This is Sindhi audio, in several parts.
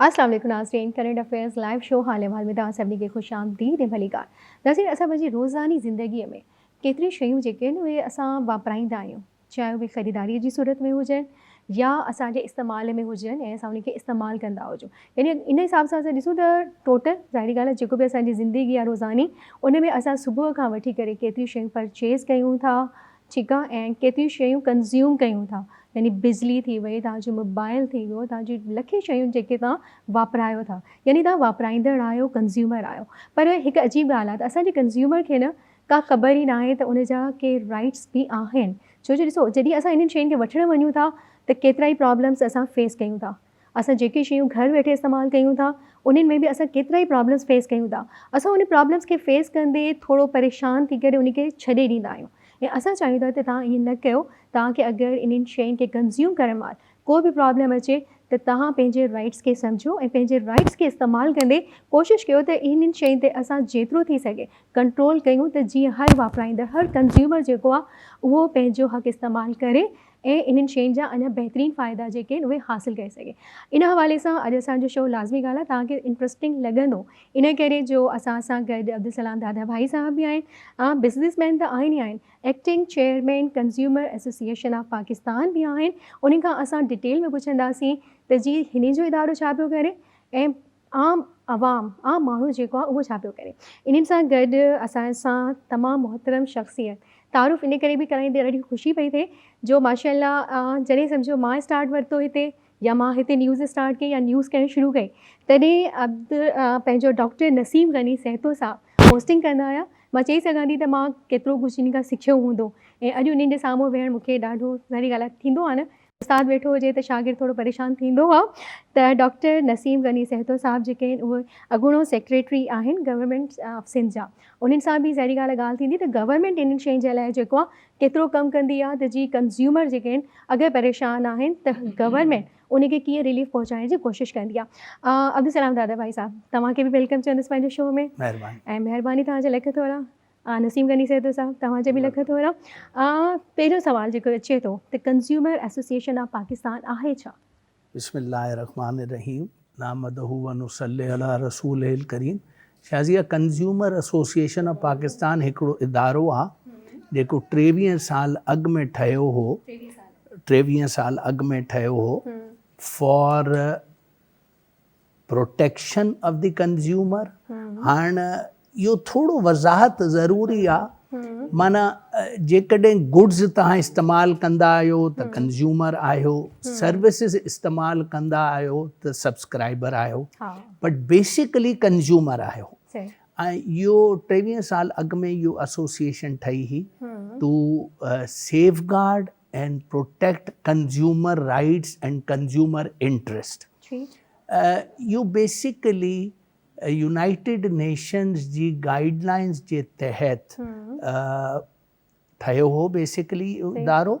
السلام عليڪم ناظرين ڪرنٽ افيئرز لائيو شو حال احوال ۾ توهان سڀني کي خوش آمديد ۽ ڀلي ڪار ناظرين اسان پنهنجي روزاني زندگي ۾ ڪيتريون شيون جيڪي آهن اهي اسان واپرائيندا آهيون چاهي اهي خريداري جي صورت ۾ هجن يا اسان جي استعمال ۾ هجن ۽ اسان انهن کي استعمال ڪندا هجون يعني ان حساب سان اسان ڏسون ته ٽوٽل ظاهري ڳالهه جيڪو به اسان جي زندگي آهي روزاني ان ۾ اسان صبح کان وٺي ڪري ڪيتريون شيون پرچيز ڪيون ٿا ڇڪا ۽ ڪيتريون شيون ڪنزيوم ڪيون ٿا يعني بجلي ٿي وئي توهان جو موبائل ٿي ويو توهان جي لکين شيون جيڪي توهان واپرايو ٿا يعني توهان واپرائيندڙ آهيو ڪنزيومر آهيو پر هڪ عجيب ڳالهه آهي ته اسان جي ڪنزيومر کي نه ڪا خبر ئي ناهي ته ان جا ڪي رائيٽس به آهن ڇو جو ڏسو جڏهن اسان انهن شين کي وٺڻ وڃون ٿا ته ڪيترائي پرابلمس اسان فيس ڪيون ٿا اسان جيڪي شيون گهر ويٺي استعمال ڪيون ٿا انهن ۾ به اسان ڪيترائي پرابلمس فيس ڪيون ٿا اسان ان پرابلمس کي فيس ڪندي ٿورو پريشان ٿي ڪري ان کي ڇڏي ڏيندا آهيون ۽ اسان چاهيون ٿا ته توهان ائين نه ڪيو توهان کي اگر انهن شين کي ڪنزيوم ڪرڻ مهل ڪو به پرابلم اچي ته توهان پنهنجي رائيٽس کي سمجهو ۽ پنهنجي رائيٽس کي استعمال ڪندي ڪوشش ڪيو ته انهن شين تي اسان جيترو ٿي سگهي ڪنٽرول ڪيون ته جيئن هر واپرائيندڙ هر ڪنزيومر جيڪو آهي اهو پنهنجو حق استعمال ڪري ۽ انهن شين جا اڃا بهترين فائدا جيڪي آهن اهي حاصل ڪري سگهي ان حوالي سان اڄ اسان جو شو لازمي ڳالهه آهي توهان کي انٽرسٽنگ لڳندو ان ڪري جو اسان سان گڏ عبدالسلام دادا ڀائي صاحب به آهن عام بزنس مين ته آهن ئي آهن acting chairman consumer association of Pakistan به آهن انهن کان اسان ڊيٽيل ۾ پڇنداسين ته جي هنن جو ادارو ڇا پيو ڪري ۽ عام عوام عام ماڻهو جيڪو آهي اهو ڇا پيو ڪري. انهن سان گڏ اسان سان تمام محترم شخصيت تعارف ان ڪري به ڪرائيندي ڏاڍي خوشي پئي ٿئي جو ماشاءالله جڏهن سمجهو مان اسٽارٽ ورتو هتي يا مان هتي نيوز اسٽارٽ ڪئي يا نيوز ڪرڻ شروع ڪئي تڏهن عبد پنهنجو ڊاڪٽر نسيم غني سهتو صاحب هوسٽنگ ڪندا هيا مان چئي سگهان ٿي ته مان ڪيترو ڪجهه انهن کان سکيو هوندو ۽ اڄ انهن جي سامهون ويهڻ مون کي ڏاڍو ظاهري ڳالهه آهي ٿيندو آهي نه استاد ويٺو هجي ته شاگرد ٿورو پريشان ٿيندو هو ته ڊاڪٽر نسيم غني سهتو صاحب جيڪي آهن اهي اڳوڻو سيڪريٽري آهن گورنمينٽ آف سنڌ جا انهن سان به ظاهري ڳالهه ڳالهه ٿيندي ته گورنمينٽ انهن شين جي لاء جيڪو آهي ڪيترو ڪم ڪندي آهي ته جي ڪنزيومر جيڪي آهن اگهي پريشان آهن ته گورنمينٽ ان کي ڪيئن رليف پهچائڻ جي ڪوشش ڪندي آهي عبدالسلام دادا ڀائي صاحب توهان کي به ويلڪم چوندس پنهنجي شو ۾ مهرباني ۽ مهرباني توهان جي لک ٿورا آ نسيم غني صيب صاحب توهان جو به لک ٿورا آ پهريون سوال جيڪو اچي ٿو ته ڪنزيومر ايسوسيئيشن آف پاڪستان آهي ڇا؟ بسم الله الرحمٰن الرحيم نحمده ونصلي علي رسوله الڪريم Shazia consumer association of Pakistan هڪڙو ادارو آ جيڪو ٽيويهه سال اڳ ۾ ٺهيو هو ٽيويهه سال اڳ ۾ ٺهيو هو for protection of the consumer هاڻ اهو ٿورو وضاحت ضروري آ معنيٰ جيڪڏهن گڊز توهان استعمال ڪندا آهيو ته ڪنزيومر آهيو سروسز استعمال ڪندا آهيو ته سبسڪرائبر آهيو بٽ بيسيڪلي ڪنزيومر آهيو ۽ اهو ٽيويهه سال اڳ ۾ اهو ايسوسيئيشن ٺهي هئي to safeguard and protect consumer rights and consumer interest اهو بيسيڪلي يونائيٽيڊ نيشنز جي گائيڊ لائنز جي تحت ٺهيو هو بيسيڪلي ادارو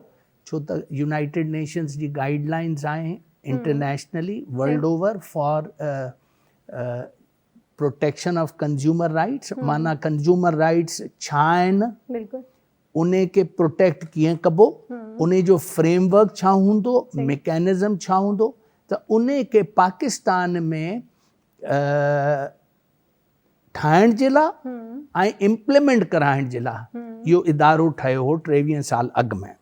ڇو ته يونائيٽيڊ نيشنز جي گائيڊ لائنز آهن internationally world over for protection of consumer rights معنيٰ ڪنزيومر رائيٽس ڇا آهن انهي کي پروٽيڪٽ ڪيئن ڪبو، انهي جو فريم ورڪ ڇا هوندو، ميڪانزم ڇا هوندو ته انهي کي پاڪستان ۾ ٺاهڻ جي لا۽ امپلمينٽ ڪرائڻ جي لا اهو ادارو ٺهيو هو ٽيويهن سال اڳ ۾.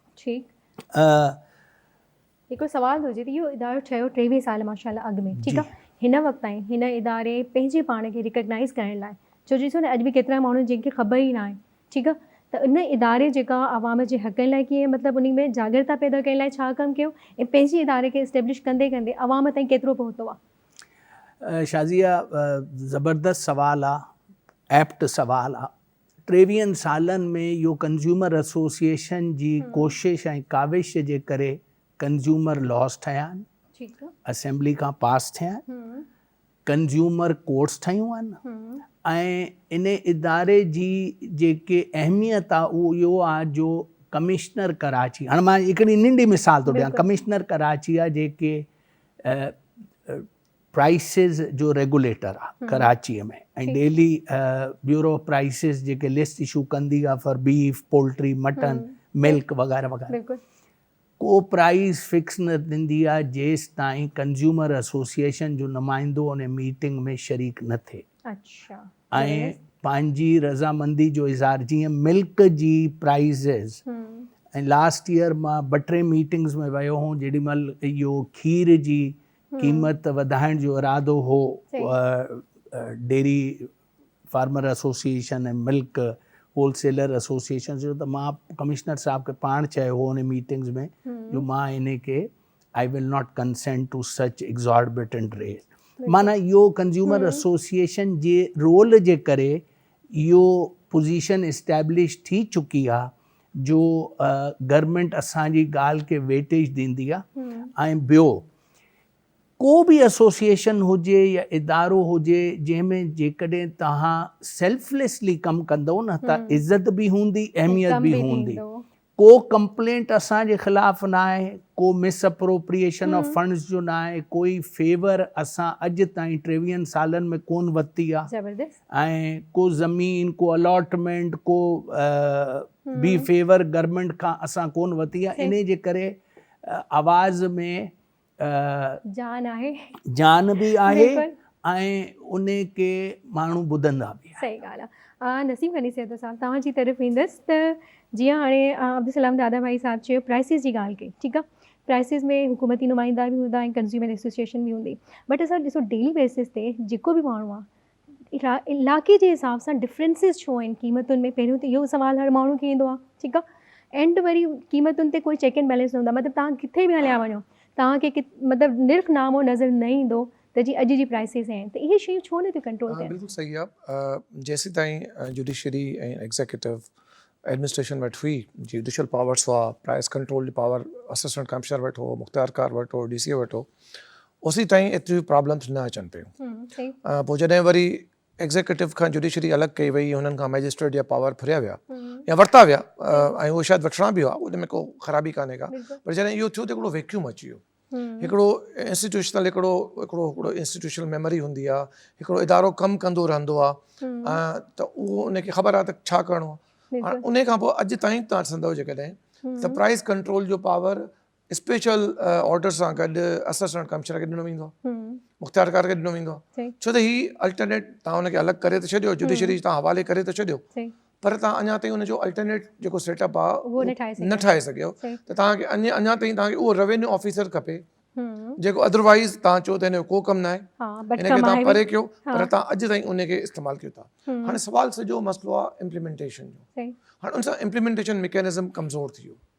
هڪڙو سوال ٿو اچي ته اهو ادارو ٺهيو ٽيويهه سال ماشاء الله اڳ ۾ ٺيڪ آ هن وقت تائين هن اداري پنهنجي پاڻ کي ريڪگنائز ڪرڻ لاء ڇو جو ڏسو نه اڄ به ڪيترا ماڻهو آهن جن کي خبر ئي ناهي ٺيڪ آ ته ان اداري جيڪا عوام جي حقن لاء ڪيئن مطلب انهي ۾ جاڳرتا پيدا ڪرڻ لاء ڇا ڪم ڪيو ۽ پنهنجي اداري کي اسٽيبلش ڪندي ڪندي عوام تائين ڪيترو پهتو آ. شازيه زبردست سوال آ ايپٽ سوال آ ٽيويهن سالن ۾ اهو ڪنزيومر ايسوسيئيشن جي ڪوشش ۽ ڪاوش جي ڪري ڪنزيومر لاز ٺهيا آهن، اسيمبلي کان پاس ٿيا آهن، ڪنزيومر ڪورٽس ٺهيون آهن ۽ ان اداري جي جيڪي اهميت آهي اهو اهو آهي جو ڪمشنر ڪراچي هاڻ مان هڪڙي ننڍي مثال ٿو ڏيان ڪمشنر ڪراچي جيڪي پرائسز جو ريگوليٽر آ Karachi ۾ ۽ daily bureau of prices جيڪي لسٽ اشو ڪندي آ for beef poultry mutton milk وغيره وغيره ڪو پرائس فڪس نه ٿيندي آ جيستائين ڪنزيومر ايسوسيئيشن جو نمائندو ان ميٽنگ ۾ شريڪ نه ٿئي ۽ پنهنجي رضامندي جو اظهار جيئن ملڪ جي پرائسز ۽ لاسٽ ييئر مان ٻه ٽي ميٽنگز ۾ ويو هون جيڏي مهل اهو کير جي قيمت وڌائڻ جو ارادو هو، dairy farmer association ۽ milk wholesaler association جو ته مان ڪمشنر صاحب کي پاڻ چيو هو انهي ميٽنگز ۾ جو مان انهي کي I will not consent to such exorbitant rate معنيٰ اهو ڪنزيومر ايسوسيئيشن جي رول جي ڪري اهو پوزيشن اسٽيبلش ٿي چڪي آهي جو گورنمينٽ اسان جي ڳالهه کي ويٽيج ڏيندي آ ۽ ٻيو ڪو به ايسوسيئيشن هجي يا ادارو هجي جنهن ۾ جيڪڏهن توهان سيلف ليسلي ڪم ڪندئو نه ته عزت به هوندي اهميت به هوندي ڪو ڪمپلينٽ اسان جي خلاف نه آهي ڪو مس اپروپريئيشن آف فنڊز جو نه آهي ڪوئي فيور اسان اڄ تائين ٽيويهن سالن ۾ ڪون ورتي آ ۽ ڪو زمين ڪو الاٽمينٽ ڪو بي فيور گورمينٽ کان اسان ڪون وتي آ انهي جي ڪري آواز ۾ جان آهي جان به آهي ۽ انهي کي ماڻهو ٻڌندا به آهن صحيح ڳالهه آ نسيم غني صاحب صاحب توهان جي طرف ايندس ته جيئن هاڻي عبدالسلام دادا ڀائي صاحب چيو پرائسز جي ڳالهه ڪئي ٺيڪ آ پرائسز ۾ حڪومتي نمائندا به هوندا ۽ ڪنزيومر ايسوسيئيشن به هوندي بٽ اسان ڏسو ڊيلي بيسز تي جيڪو به ماڻهو آ علاقي جي حساب سان ڊفرينسز ڇو آهن قيمتن ۾ پهريون ته اهو سوال هر ماڻهو کي ايندو آهي ٺيڪ آهي اينڊ وري قيمتن تي ڪوئي چيڪ اينڊ بيلنس نه هوندو مطلب تهان ڪٿي به هليا وڃو تهان کي مطلب نرخ نامو نظر نه ايندو ته جي اڄ جي پرائسز آهن ته اهي شيون ڇو نه ٿيون ڪنٽرول ٿين بلڪل صحيح آهي جيسين تائين جوڊيشري ۽ ايگزيڪيوٽو ايڊمنسٽريشن وٽ هئي جوڊيشل پاورس هئا پرائس ڪنٽرول جي پاور اسسٽنٽ ڪمشنر وٽ هو مختيارڪار وٽ هو ڊي سي وٽ هو اوسين تائين ايتريون پرابلمس نه اچن پيون پوء جڏهن وري ايگزيڪيوٽو کان جوڊيشري الڳ ڪئي وئي هنن کان مئجسٽريٽ جا پاور ڦريا ويا يا ورتا ويا ۽ اهي شايد وٺڻا به هئا ان ۾ ڪو خرابي ڪانهي ڪا پر جڏهن اهو ٿيو ته هڪڙو ويڪيوم اچي ويو هڪڙو انسٽيٽيوشنل هڪڙو هڪڙو هڪڙو انسٽيٽيوشنل ميموري هوندي آ هڪڙو ادارو ڪم ڪندو رهندو آ ته اهو ان کي خبر آ ته ڇا ڪرڻو آ ان کان پوء اڄ تائين تان سندو جيڪڏهن ته پرائز ڪنٽرول جو پاور اسپيشل آرڊر سان گڏ اسسٽنٽ ڪمشنر کي ڏنو ويندو آهي مختيارڪار کي ڏنو ويندو آهي ڇو ته هي الٽرنيٽ تان ان کي الڳ ڪري ته ڇڏيو جوڊيشري تان حوالي ڪري ته ڇڏيو پر تان اڃا تائين ان جو الٽرنيٽ جيڪو سيٽ اپ آهي نه ٺاهي سگهيو ته تان کي اڃا اڃا تائين تان کي اهو روينيو آفيسر کپي جيڪو ادروائز تان چئو ته هن جو ڪو ڪم نه آهي ان کي تان پري ڪيو پر تان اڄ تائين ان کي استعمال ڪيو ٿا هاڻي سوال سڄو مسئلو آهي امپليمنٽيشن جو هاڻي ان سان امپليمنٽيشن ميڪينزم ڪمزور ٿي ويو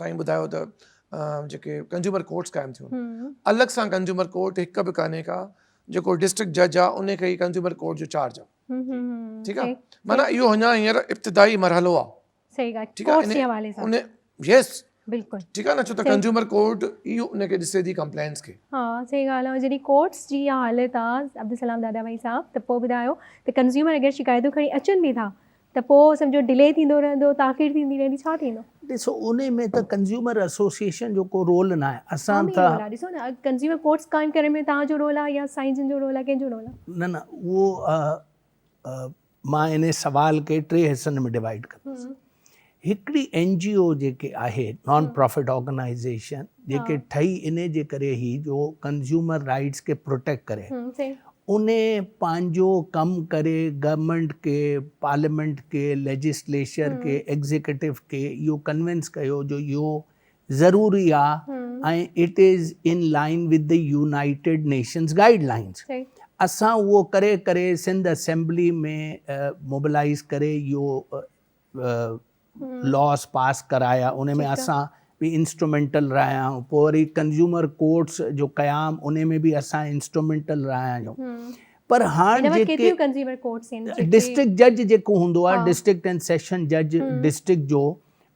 سائين ٻڌايو ته جيڪي ڪنزيومر ڪورٽس قائم ٿيون الڳ سان ڪنزيومر ڪورٽ هڪ به ڪانهي کا جيڪو ڊسٽرڪٽ جج آ ان کي ڪنزيومر ڪورٽ جو چارج آ ٺيڪ آ معنيٰ اهو اڃا هينئر ابتدائي مرحلو آ صحيح ڳالهه ٺيڪ آ يس بلڪل ٺيڪ آ نه ڇو ته ڪنزيومر ڪورٽ ئي ان کي ڏسي ٿي ڪمپلينس کي ها صحيح ڳالهه آ جڏهن ڪورٽس جي اها حالت آ عبدالسلام دادا ڀائي صاحب ته پوء ٻڌايو ته ڪنزيومر اگر شڪايتون کڻي اچن به ٿا ته پوء سمجهو ڊلي ٿيندو رهندو تاخير ٿيندي رهندي ڇا ٿيندو. ڏسو ان ۾ ته ڪنزيومر ايسوسيئيشن جو ڪو رول ناهي اسان ته. عوامي رول آهي ڏسو نه اڄ ڪنزيومر ڪورٽس قائم ڪرڻ ۾ توهان جو رول آهي يا سائين جن جو رول آهي ڪنهن جو رول آهي. نه نه اهو مان ان سوال کي ٽي حصن ۾ ڊوائيڊ ڪندس هڪڙي اين جي او جيڪي آهي نان پرافٽ آرگنائيزيشن جيڪي ٺهي انهي جي ڪري هي جو ڪنزيومر رائيٽس کي پروٽيڪٽ ڪري انهي پنهنجو ڪم ڪري گورنمينٽ کي پارليامينٽ کي ليجسليشر کي ايگزيڪٽو کي اهو ڪنوينس ڪيو جو اهو ضروري آ ۽ it is in line with the United Nations guidelines اسان اهو ڪري ڪري سنڌ اسيمبلي ۾ موبلائيز ڪري اهو لاس پاس ڪرايا ان ۾ اسان به انسٽرومينٽل رهيا آهيون پوء وري ڪنزيومر ڪورٽس جو قيام ان ۾ به اسان انسٽرومينٽل رهيا آهيون پر هاڻ جيڪي ڊسٽرڪٽ جج جيڪو هوندو آهي ڊسٽرڪٽ اينڊ سيشن جج ڊسٽرڪٽ جو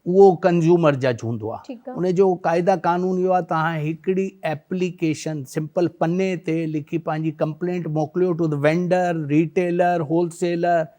اهو ڪنزيومر جج هوندو آهي ان جو قاعده قانون اهو آهي توهان هڪڙي ايپليڪيشن سمپل پني تي لکي پنهنجي ڪمپلينٽ موڪليو to the vendor retailer wholesaler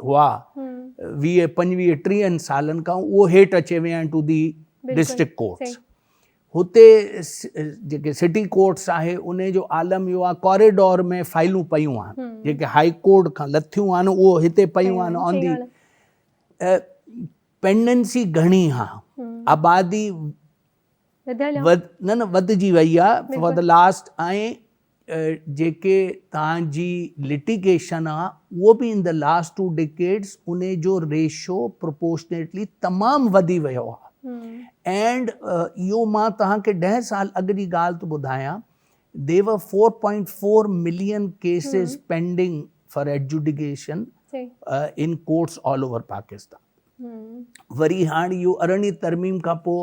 هئا ويهه پنجويهه ٽيهن سالن کان اهو هيٺ اچي ويا آهن ٽو دي ڊسٽرڪٽ ڪورٽس هتي جيڪي سٽي ڪورٽس آهي ان جو عالم اهو آهي ڪوريڊور ۾ فائلون پيون آهن جيڪي هاء ڪورٽ کان لٿيون آهن اهو هتي پيون آهن آن دي پينڊنسي گهڻي ها آبادي نه نه وڌجي وئي آهي فار دا لاسٽ ۽ جيڪي توهان جي لٽيگيشن آ اهو به in the last two decades ان جو ريشو پروپورشنيٽلي تمام وڌي ويو آ اينڊ اهو مان توهان کي ڏهه سال اڳ جي ڳالهه ٿو ٻڌايان the were four point four million cases pending for adjudication in courts all over Pakistan وري هاڻ اهو ارڙهين ترميم کان پوء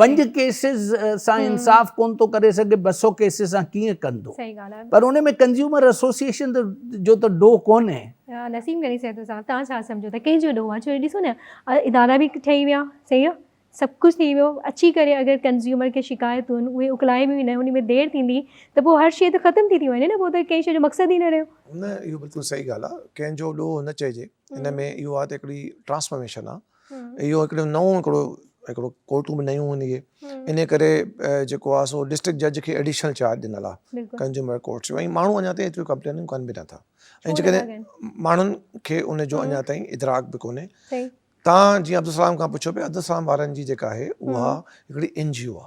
پنج ڪيسز سان انصاف ڪون ٿو ڪري سگهي ٻه سؤ ڪيسز سان ڪيئن ڪندو پر ان ۾ ڪنزيومر ايسوسيئيشن جو ته ڏوهه ڪونهي نسيم غني صاحب صاحب تان ڇا سمجھو ته ڪنهن جو ڏوهه آهي ڇو ڏسو نه ادارا به ٺهي ويا صحيح آهي سڀ ڪجھه ٿي ويو اچي ڪري اگر ڪنزيومر کي شڪايتون آهن اهي اڪلائي به ويندا ان ۾ دير ٿيندي ته پوء هر شيء ته ختم ٿي ٿي وڃي نه پوء ته ڪنهن شيء جو مقصد ئي نه رهيو نه اهو بلڪل صحيح ڳالهه آهي ڪنهن جو ڏوهه نه چئجي ان ۾ اهو آهي ته هڪڙي ٽرانسفارميشن آهي اهو هڪڙو نئون هڪڙو هڪڙو ڪورٽون به نيون هوندي ان ڪري جيڪو آ سو ڊسٽرڪٽ جج کي ايڊيشنل چارج ڏنل آ ڪنزيومر ڪورٽس جو ۽ ماڻهو اڃا تائين ايتريون ڪمپلينون ڪن به نٿا ۽ جيڪڏهن ماڻهن کي ان جو اڃا تائين ادراڪ به ڪونهي تان جيئن عبدالسلام کان پڇيو پي عبدالسلام وارن جي جيڪا آهي اها هڪڙي اين جي او آ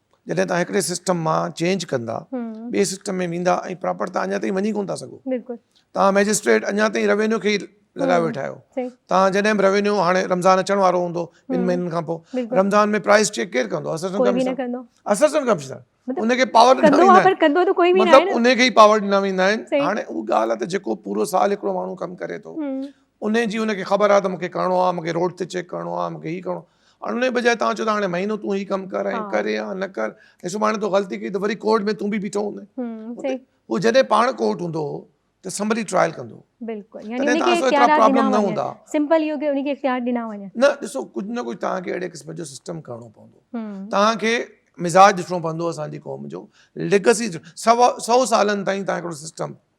جڏهن توهان هڪڙي سسٽم مان چينج ڪندا ٻئي سسٽم ۾ ويندا ۽ پراپر توهان اڃا تائين وڃي ڪونه ٿا سگهو توهان مئجسٽريٽ اڃا تائين روينيو کي لڳايو ويٺا آهيو توهان جڏهن به روينيو هاڻي رمضان اچڻ وارو هوندو ٻن مهينن کان پوء رمضان ۾ پرائز چيڪ ڪير ڪندو اسسٽنٽ ڪمشنر ان کي پاور ڏنا ويندا آهن مطلب ان کي ئي پاور ڏنا ويندا آهن هاڻي اها ڳالهه ته جيڪو پورو سال هڪڙو ماڻهو ڪم ڪري ٿو ان جي ان کي خبر آهي ته مون کي ڪرڻو آهي مون کي روڊ تي چيڪ ڪرڻو آهي مون کي هي ڪرڻو آهي ۽ ان جي بجاء توهان چئو ٿا هاڻي مهينو تون هي ڪم ڪر ۽ ڪر يا نه ڪر ۽ سڀاڻي تو غلطي ڪئي ته وري ڪورٽ ۾ تون به بيٺو هوندين هو جڏهن پاڻ ڪورٽ هوندو هو ته سمبلي ٽرائل ڪندو بلڪل يعني ان کي اختيار ڏنا وڃن سمپل اهو ڪي ان کي اختيار ڏنا وڃن نه ڏسو ڪجهه نه ڪجهه توهان کي اهڙي قسم جو سسٽم ڪرڻو پوندو توهان کي مزاج ڏسڻو پوندو اسان جي قوم جو ليگسي سو سالن تائين توهان هڪڙو سسٽم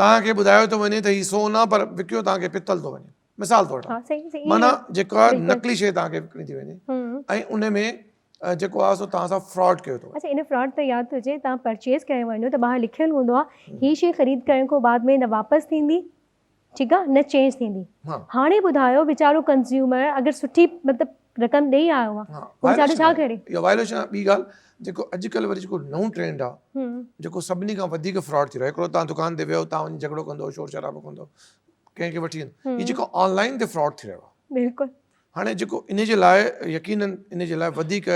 توهان کي ٻڌايو ٿو وڃي ته هي سون آ پر وڪيو توهان کي پتل ٿو وڃي مثال طور مانا جيڪا نقلي شيء توهان کي وڪڻي ٿي وڃي ۽ ان ۾ جيڪو آ سو تان سا فراڈ کيو تو اچھا ان فراڈ ته ياد تجھي تا پرچيز ڪري ونيو ته باهر لکيل هوندو آ هي شي خريد ڪرڻ کان بعد ۾ نه واپس ٿيندي ٺيڪ آ نه چينج ٿيندي هاڻي ٻڌايو ويچارو ڪنزيومر اگر سٺي مطلب رقم ڏيئي آيو آ پوء ويچاري ڇا ڪري. اها وائليشن آ ٻي ڳالھ جيڪو اڄ ڪلھ وري جيڪو نئون ٽرينڊ آ جيڪو سڀني کان وڌيڪ فراڊ ٿي رهيو آ هڪڙو تان دڪان تي ويو تان وڃي جھڳڙو ڪندو شور شرابو ڪندو ڪنهن کي وٺي ويندو هي جيڪو آن لائين تي فراڊ ٿي رهيو آ بلڪل هاڻي جيڪو ان جي لاء يقينن ان جي لاء وڌيڪ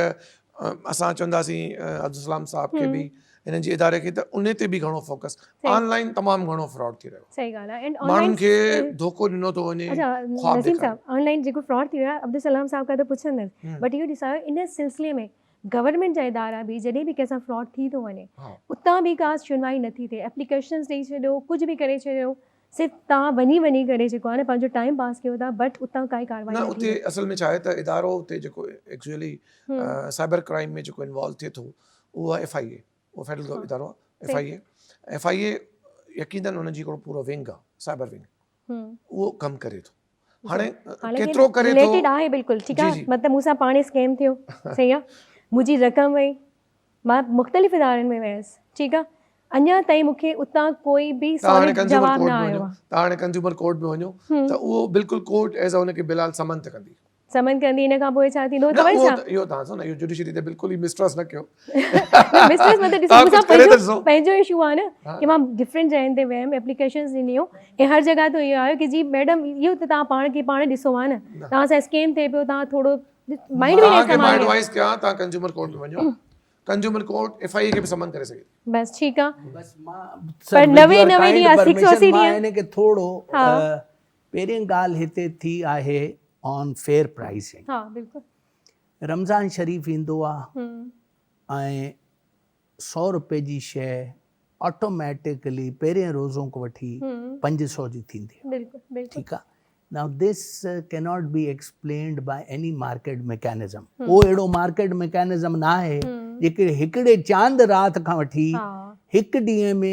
اسان چونداسين عبدالسلام صاحب کي به هنن جي اداري کي ته ان تي به گهڻو فوڪس آن لائن تمام گهڻو فراڊ ٿي رهيو صحيح ڳالهه آهي ماڻهن کي ڌوڪو ڏنو ٿو وڃي خواب ڏيکاري نسيم صاحب آن لائن جيڪو فراڊ ٿي رهيو آهي عبدالسلام صاحب کان ته پڇندس بٽ اهو ڏسايو ان سلسلي ۾ گورنمينٽ جا ادارا به جڏهن به ڪنهن سان فراڊ ٿي ٿو وڃي اتان به ڪا شنوائي نٿي ٿئي اپليڪيشنز ڏئي ڇڏيو ڪجهه به ڪري ڇڏيو صرف توهان وڃي وڃي ڪري جيڪو آهي نه پنهنجو ٽائيم پاس ڪيو ٿا بٽ اتان ڪائي ڪاروائي نه ٿي نه اتي اصل ۾ ڇا آهي ته ادارو اتي جيڪو ايڪچوئلي سائبر ڪرائيم ۾ جيڪو انوالو ٿئي ٿو اهو آهي ايف آئي اي اهو فيڊرل ادارو آهي F I A F I A يقينن ان جي هڪڙو پورو ونگ آهي سائبر ونگ اهو ڪم ڪري ٿو هاڻي ڪيترو ڪري ٿو رليٽيڊ آهي بلڪل ٺيڪ آهي مطلب مون سان پاڻ اسڪيم ٿيو صحيح آهي منهنجي رقم وئي مان مختلف ادارن ۾ ويس ٺيڪ آهي اڃا تائين مون کي اتان ڪوئي به ساليڊ جواب نه آيو آهي تون هاڻي ڪنزيومر ڪورٽ ۾ وڃو ته اهو بلڪل ڪورٽ ايز ان کي بلال سمن ته ڪندي سمن ڪندي ان کان پوء ڇا ٿيندو توهين ڇا اهو تهان سان اهو جوڊيشري تي بلڪل ئي مسٽرس نه ڪيو مسٽرس مطلب ڏسو مون سان پنهنجو پنهنجو ايشو آهي نه ڪي مان ڊفرنٽ جاين تي ويم اپليڪيشنز ڏنيون ۽ هر جگهه تي اهو آيو ڪي جي ميڊم اهو ته تهان پاڻ کي پاڻ ڏسو آهي نه تهان سان اسڪيم ٿي پيو تهان ٿورو مائنڊ به نه ڪم آهي ايڊوائيس ڪيا تهان ڪنزيومر ڪورٽ ۾ وڃو ڪنزيومر ڪورٽ ايف آئي کي به سمن ڪري سگهي بس ٺيڪ آهي بس مان پر نوي نوي ڏينهن 680 ڏينهن ٿورو پهرين ڳالهه هتي ٿي آهي آن فيئر پرائسنگ رمضان شريف ايندو آ ۽ سؤ روپي جي شئ آٽوميٽڪلي پهرين روزو کان وٺي پنج سؤ جي ٿيندي آ ٺيڪ آ now this cannot be explained by any market mechanism ڪو اهڙو مارڪيٽ ميڪانزم ناهي جيڪي هڪڙي چاند رات کان وٺي هڪ ڏينهن ۾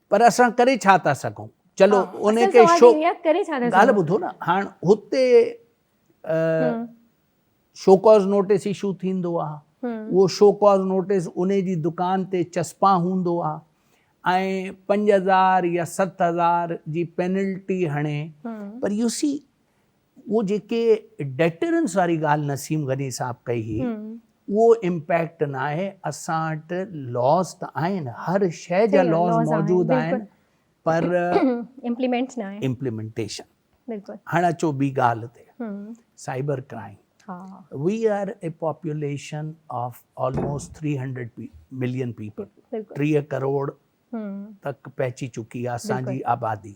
پر اسان ڪري ڇا ٿا سگهون چلو ان کي شو ڳالهه ٻڌو نه هاڻ هتي شوڪاز نوٽيس اشو ٿيندو آهي اهو شوڪاز نوٽيس ان جي دڪان تي چسپا هوندو آهي ۽ پنج هزار يا ست هزار جي پينلٽي هڻي پر يو سي اهو جيڪي ڊيٽرنس واري ڳالهه نسيم غني صاحب ڪئي هئي اهو امپيڪٽ ناهي اسان وٽ لاز ته آهن هر شي جا لاز موجود آهن پر امپليمينٽ ناهي امپليمينٽيشن بلڪل هاڻ اچو ٻي ڳالهه تي cyber crime we are a population of almost three hundred million people ٽيهه ڪروڙ تڪ پهچي چڪي آهي اسان جي آبادي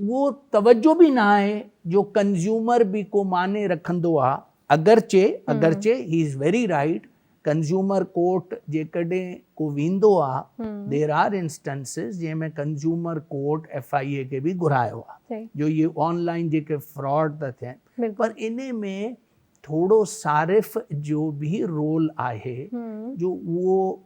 اهو توجهه به نه آهي جو ڪنزيومر به ڪو معني رکندو آ اگرچه اگرچه هي is very right consumer court جيڪڏهن ڪو ويندو آ دير آر انسٽنسز جنهن ۾ consumer court F I A کي به گهرايو آ جو هي آن لائين جيڪي فراڊ ٿا ٿين پر انهي ۾ ٿورو صارف جو به رول آهي جو اهو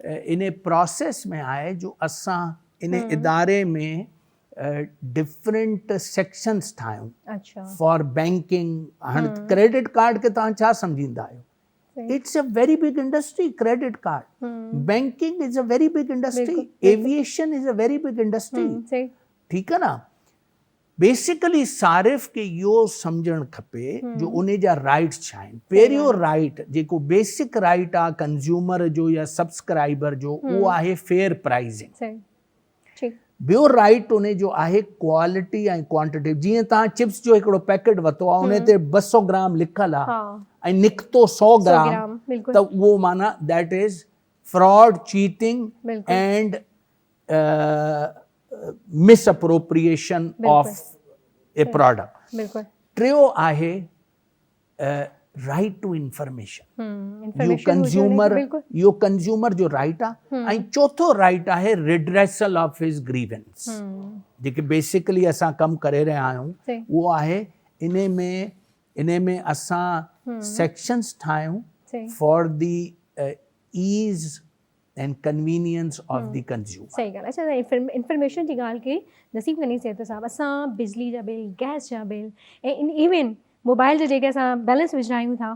ان پراسيس ۾ آء جو اسان ان اداري ۾ ڊفرنٽ سيڪشنس ٺاهيون فار بينڪنگ هاڻ ڪريڊٽ ڪارڊ کي توهان ڇا سمجهندا آهيو it's a very big industry credit card banking is a very big industry aviation is a very big industry ٺيڪ آهي نه بيسيڪلي صارف کي اهو سمجهڻ کپي جو انهي جا رائيٽس ڇا آهن. پهريون رائيٽ جيڪو بيسڪ رائيٽ آهي ڪنزيومر جو يا سبسڪرائبر جو اهو آهي فيئر پرائيزنگ. ٻيو رائيٽ انهي جو آهي ڪوالٽي ۽ ڪوانٽٽي جيئن توهان چپس جو هڪڙو پيڪيٽ ورتو آهي انهي تي ٻه سؤ گرام لکيل آهي ۽ نڪتو سؤ گرام ته اهو معنيٰ that is fraud cheating and misappropriation of a product ٽيون آهي right to information you consumer you consumer جو رائيٽ آهي ۽ چوٿو رائيٽ آهي ريڊريسل آف هز گريونس جيڪي بيسڪلي اسان ڪم ڪري رهيا آهيون اهو آهي ان ۾ ان ۾ اسان سيڪشنس ٺاهيون for the ease and convenience of the consumer. صحيح ڳالهه اچا تون انفارميشن جي ڳالهه ڪئي نصيب غني سيد صاحب اسان بجلي جا بل گئس جا بل ۽ ايون موبائل جا جيڪي اسان بيلنس وجھرايون ٿا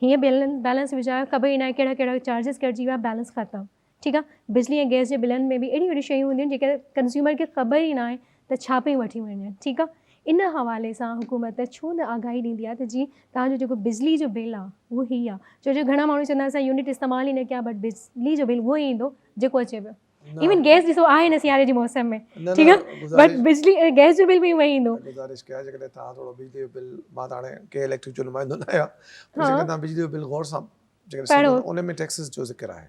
هيئن بيلنس بيلنس وجھرايو خبر ئي ناهي ڪهڙا ڪهڙا چارجز ڪٽجي ويا بيلنس ختم ٺيڪ آهي بجلي ۽ گئس جي بلن ۾ به اهڙيون اهڙيون شيون هونديون آهن جيڪي ڪنزيومر کي خبر ئي ناهي ته ڇا پئي وٺي وڃن ٺيڪ آ ان حوالي سان حڪومت ڇو نه آگاهي ڏيندي آ ته جي توهان جو جيڪو بجلي جو بل آ اهو هي آ ڇو جو گهڻا ماڻهو چوندا اسان يونٽ استعمال ئي نه ڪيا بٽ بجلي جو بل اهو ئي ايندو جيڪو اچي پيو ايون گيس ڏسو آهي نه سياري جي موسم ۾ ٺيڪ آ بٽ بجلي گيس جو بل به اهو ئي ايندو گذارش ڪيا جيڪڏهن توهان ٿورو بجلي جو بل مان ته هاڻي ڪنهن اليڪٽرڪ جو نمائندو نه آهيان جيڪڏهن توهان بجلي جو بل غور سان جيڪڏهن ان ۾ ٽيڪسز جو ذڪر آهي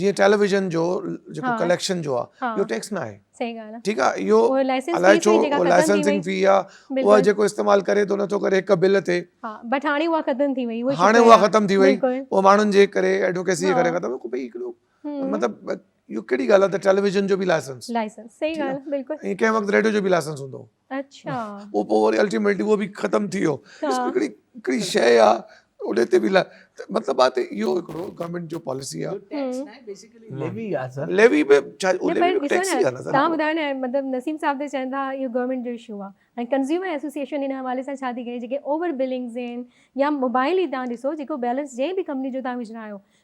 جيئن ٽيليويزن جو جيڪو ڪليڪشن جو آ اهو ٽيڪس نه آهي صحيح ڳالهه آ ٺيڪ آ اهو الائي ڇو لائسنسنگ في آ اها جيڪو استعمال ڪري ٿو نٿو ڪري هڪ بل تي ها بٽ هاڻي اها ختم ٿي وئي هاڻي اها ختم ٿي وئي اهو ماڻهن جي ڪري ايڊوڪيسي جي ڪري ختم ڪو بي هڪڙو مطلب اهو ڪهڙي ڳالهه آ ته ٽيليويزن جو به لائسنس لائسنس صحيح ڳالهه بلڪل ڪنهن وقت ريڊيو جو به لائسنس هوندو هو اڇا پوء پوء وري الٽيميٽلي اهو به ختم ٿي ويو ڏسو هڪڙي هڪڙي شيء آ انهي تي به مطلب آ ته اهو هڪڙو گورنمينٽ جو پاليسي آ ٽيڪس نه بيسيڪلي ليوي آ سر ليوي به ڇا اهو ليوي به ٽيڪس ئي آ نه سر تهان ٻڌايو نه مطلب نسيم صاحب ته چون ٿا اهو گورنمينٽ جو اشو آ ۽ ڪنزيومر ايسوسيئيشن هن حوالي سان ڇا ٿي ڪري جيڪي اوور بلنگز آهن يا موبائل ئي تهان ڏسو جيڪو بيلنس جنهن به ڪمپني جو تهان وجهرايو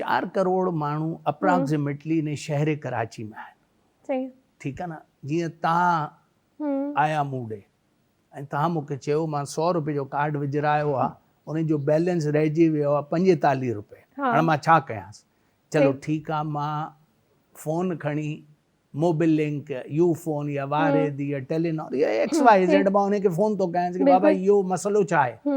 چار ڪروڙ ماڻهو اپراڪسيميٽلي انهي شهر ڪراچي ۾ آهن ٺيڪ آهي نه جيئن توهان آيا مون ڏي ۽ توهان مون کي چيو مان سؤ روپي جو ڪارڊ وجهرايو آهي ان جو بيلنس رهجي ويو آهي پنجيتاليهه روپي هاڻ مان ڇا ڪيانس چلو ٺيڪ آهي مان فون کڻي موبل لنڪ يو فون يا واريد يا ٽيلينار يا ايڪس واء زيڊ مان ان کي فون ٿو ڪيانس ڪي بابا اهو مسئلو ڇا آهي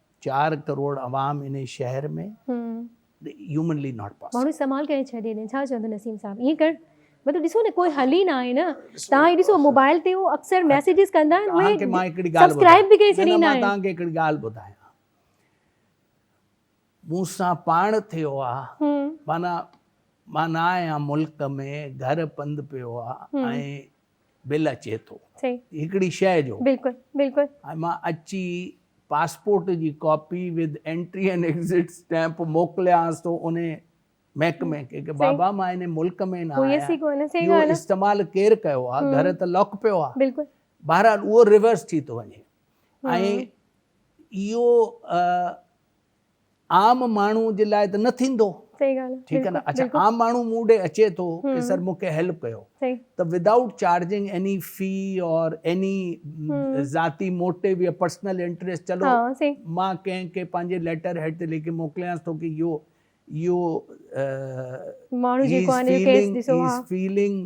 چار ڪروڙ عوام انهي شهر ۾ هيومنلي ناٽ پاسبل. ماڻهو سمال ڪري ڇڏي ڏين ڇا چوندو نسيم صاحب ائين ڪرڻ مطلب ڏسو نه ڪوئي حل ئي نه آهي نه تان هي ڏسو موبائل تي هو اڪثر ميسيجز ڪندا آهن اهي سبسڪرائب به ڪري ڇڏيندا آهن. مان کي هڪڙي ڳالهه ٻڌايان مون سان پاڻ ٿيو آهي معنيٰ مان نه آهيان ملڪ ۾ گهر پنڌ پيو آهي ۽ بل اچي ٿو هڪڙي شئي جو ۽ مان اچي پاسپورٽ جي copy with entry and exit stamp موڪليانس ٿو انهي محڪمي کي ڪي بابا مان انهي ملڪ ۾ نه آهيان اهو استعمال ڪير ڪيو آهي گهر ته لاڪ پيو آهي بهرحال اهو ريورس ٿي ٿو وڃي ۽ اهو عام ماڻهو جي لاء ته نه ٿيندو. صحيح ڳالهه آهي. ٺيڪ آهي نه اڇا عام ماڻهو مون ڏي اچي ٿو ڪي سر مون کي هيلپ ڪيو ته without charging any fee or any ذاتي موٽيو يا پرسنل انٽريسٽ چلو مان ڪنهن کي پنهنجي ليٽر هيڊ تي لکي موڪليانس ٿو ڪي يو يو ماڻهو جيڪو آهي هي is failing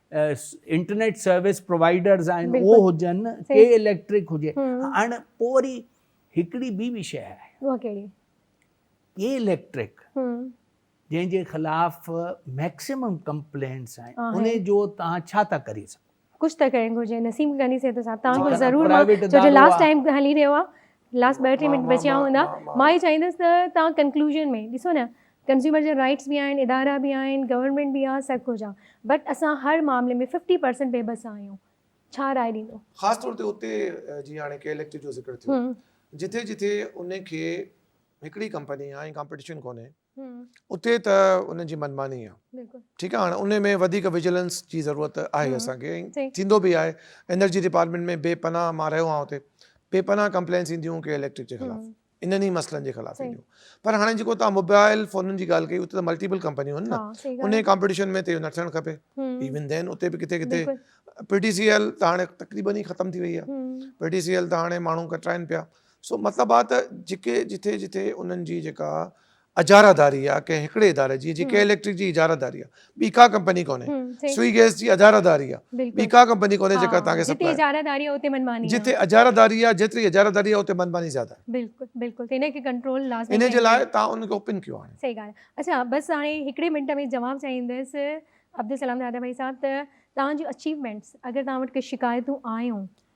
internet service providers آهن اهو هجن ڪي اليڪٽرڪ هجي هاڻ پوء وري هڪڙي ٻي به شيء آهي اها ڪهڙي ڪي اليڪٽرڪ جنهن جي خلاف ميڪسيمم ڪمپلينٽس آهن ان جو توهان ڇا ٿا ڪري سگهو ڪجهه ته ڪرڻ گهرجي نسيم غني صاحب سان توهان کي ضرور جو جو لاسٽ ٽائيم هلي رهيو آهي لاسٽ ٻه ٽي منٽ بچيا هوندا مان هي چاهيندس ته توهان ڪنڪلوزن ۾ ڏسو نه ڪنزيومر جا رائيٽس به آهن، ادارا به آهن، گورنمينٽ به آ، سڀ ڪجهه آ بٽ اسان هر معاملي ۾ ففٽي پرسنٽ بي بس آهيون. ڇا راء ڏيندو؟ خاص طور تي اتي جيئن هاڻي ڪي اليڪٽو جو ذڪر ٿيو جتي جتي ان کي هڪڙي ڪمپني آ ۽ ڪامپيٽيشن ڪونهي اتي ته ان جي منماني آ ٺيڪ آ هاڻي ان ۾ وڌيڪ وجيلنس جي ضرورت آهي اسان کي ٿيندو به آهي انرجي ڊپارٽمينٽ ۾ بي پناهه مان رهيو آهيان اتي بي پناهه ڪمپلينس اينديون ڪي اليڪٽرڪ جي خلاف انهن ئي مسئلن جي خلاف اينديون پر هاڻي جيڪو توهان موبائل فونن جي ڳالهه ڪئي اتي ته ملٽيپل ڪمپنيون آهن نه انهي ڪمپٽيشن ۾ ته اهو نه ٿيڻ کپي ايون دين اتي به ڪٿي ڪٿي پي ٽي سي ايل ته هاڻي تقريبن ئي ختم ٿي وئي آهي پي ٽي سي ايل ته هاڻي ماڻهو ڪٽرائن پيا سو مطلب آ ته جيڪي جٿي جٿي انهن جي جيڪا اجاره داري يا ڪنهن هڪڙي اداري جي جيڪي اليڪٽرڪ جي اجاره داري آ ٻي ڪا ڪمپني ڪونهي سوئي گيس جي اجاره داري آ ٻي ڪا ڪمپني ڪونهي جيڪا توهان کي جتي اجاره داري آ اتي منماني آ جتي اجاره داري آ جيتري اجاره داري آ اتي منماني زياده آ بلڪل بلڪل تنهن کي ڪنٽرول لازمي ان جي لاء توهان ان کي اوپن ڪيو آهي سهي ڳالهه آ اڇا بس هاڻي هڪڙي منٽ ۾ جواب چاهيندس عبدالسلام دادا ڀائي صاحب ته توهان جون اچيومينٽس اگر توهان وٽ ڪي شڪايتون آيون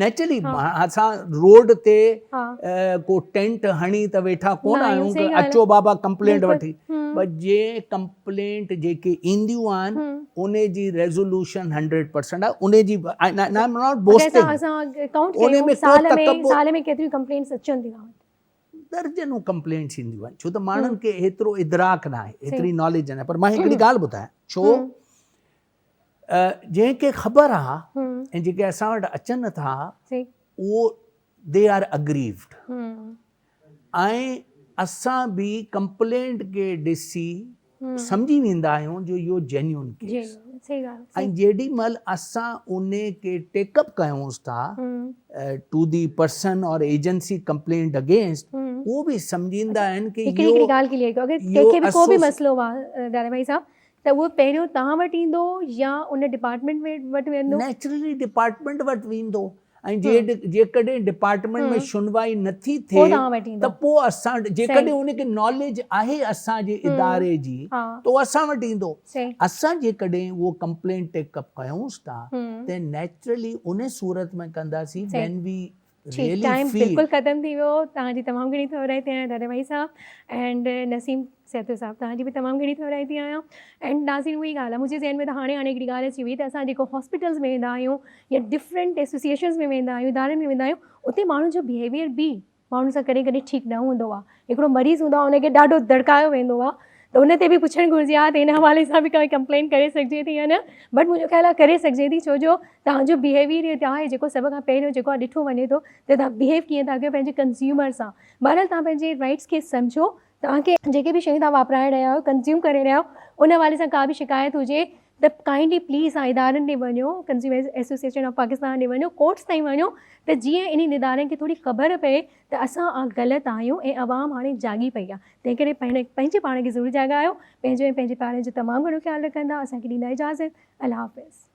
نيچرلي اسان روڊ تي ڪو ٽينٽ هڻي ته ويٺا ڪون آهيون ته اچو بابا ڪمپلينٽ وٺي پر جي ڪمپلينٽ جيڪي اينديون آهن ان جي ريزولوشن هنڊريڊ پرسنٽ آهي ان جي درجنون ڪمپلينٽس اينديون آهن ڇو ته ماڻهن کي هيترو ادراڪ ناهي هيتري ناليج ناهي پر مان هڪڙي ڳالهه ٻڌايان ڇو جنهن کي خبر آ ۽ جيڪي اسان وٽ اچن ٿا اهو دي آر اگريوڊ ۽ اسان به ڪمپلينٽ کي ڏسي سمجهي ويندا آهيون جو اهو جينيون ڪيس ۽ جيڏي مهل اسان ان کي ٽيڪ اپ ڪيونس ٿا ٽو دي پرسن اور ايجنسي ڪمپلينٽ اگينسٽ اهو به سمجهيندا آهن ڪي اهو هڪڙي ڳالهه ڪليئر ڪيو اگر ڪنهن کي به ڪو به مسئلو آ ڊاري ڀائي صاحب ته اهو پهريون توهان وٽ ايندو يا ان ڊپارٽمينٽ وٽ ويندو؟ نيچرلي ڊپارٽمينٽ وٽ ويندو ۽ جيڪڏهن ڊپارٽمينٽ ۾ شنوائي نٿي ٿئي ته پوء اسان جيڪڏهن ان کي ناليج آهي اسان جي اداري جي ته اهو اسان وٽ ايندو. اسان جيڪڏهن اهو ڪمپلينٽ ٽيڪ اپ ڪيونس ٿا ته نيچرلي ان صورت ۾ ڪنداسين وين وي ٺيڪ ٽائيم بلڪل ختم ٿي ويو توهان جي تمام گهڻي ٿورائي ٿي آهيان دادا ڀائي صاحب اينڊ نسيم سيتو صاحب توهان جي به تمام گهڻي ٿورائي ٿي آهيان اينڊ ناظرين اهي ڳالهه منهنجي ذهن ۾ ته هاڻي هاڻي هڪڙي ڳالهه اچي وئي ته اسان جيڪو هاسپيٽلز ۾ ويندا آهيون يا ڊفرنٽ ايسوسيشنز ۾ ويندا آهيون ادارن ۾ ويندا آهيون اتي ماڻهن جو بهيويئر به ماڻهن سان ڪڏهن ڪڏهن ٺيڪ نه هوندو آهي هڪڙو مريض هوندو آهي ان کي ڏاڍو دڙڪايو ويندو آهي ته ان تي به پڇڻ گهرجي ها ته ان حوالي سان به ڪانهي ڪمپلين ڪري سگهجي ٿي يا نه بٽ منهنجو خيال آهي ڪري سگهجي ٿي ڇو جو تهانجو بهيويئر ئي اتي آهي جيڪو سڀ کان پهريون جيڪو آهي ڏٺو وڃي ٿو ته تهان بهيو ڪيئن ٿا ڪيو پنهنجي ڪنزيومر سان بهرحال تهان پنهنجي رائٽس کي سمجهو تهانکي جيڪي به شيون تهان واپرائي رهيا آهيو ڪنزيوم ڪري رهيا آهيو ان حوالي سان ڪا به شڪايت هجي ته ڪائنڊلي پليز اوهان ادارن ڏي وڃو ڪنزيومرز ايسوسيئيشن آف پاڪستان ڏي وڃو ڪورٽس تائين وڃو ته جيئن انهن ادارن کي ٿوري خبر پئي ته اسان آ غلط آهيون ۽ عوام هاڻي جاڳي پئي آ تنهن ڪري پنهنجي پاڻ کي ضرور جاڳايو پنهنجو ۽ پنهنجي پيارن جو تمام گهڻو خيال رکندا اسان کي ڏيندا اجازت الله حافظ.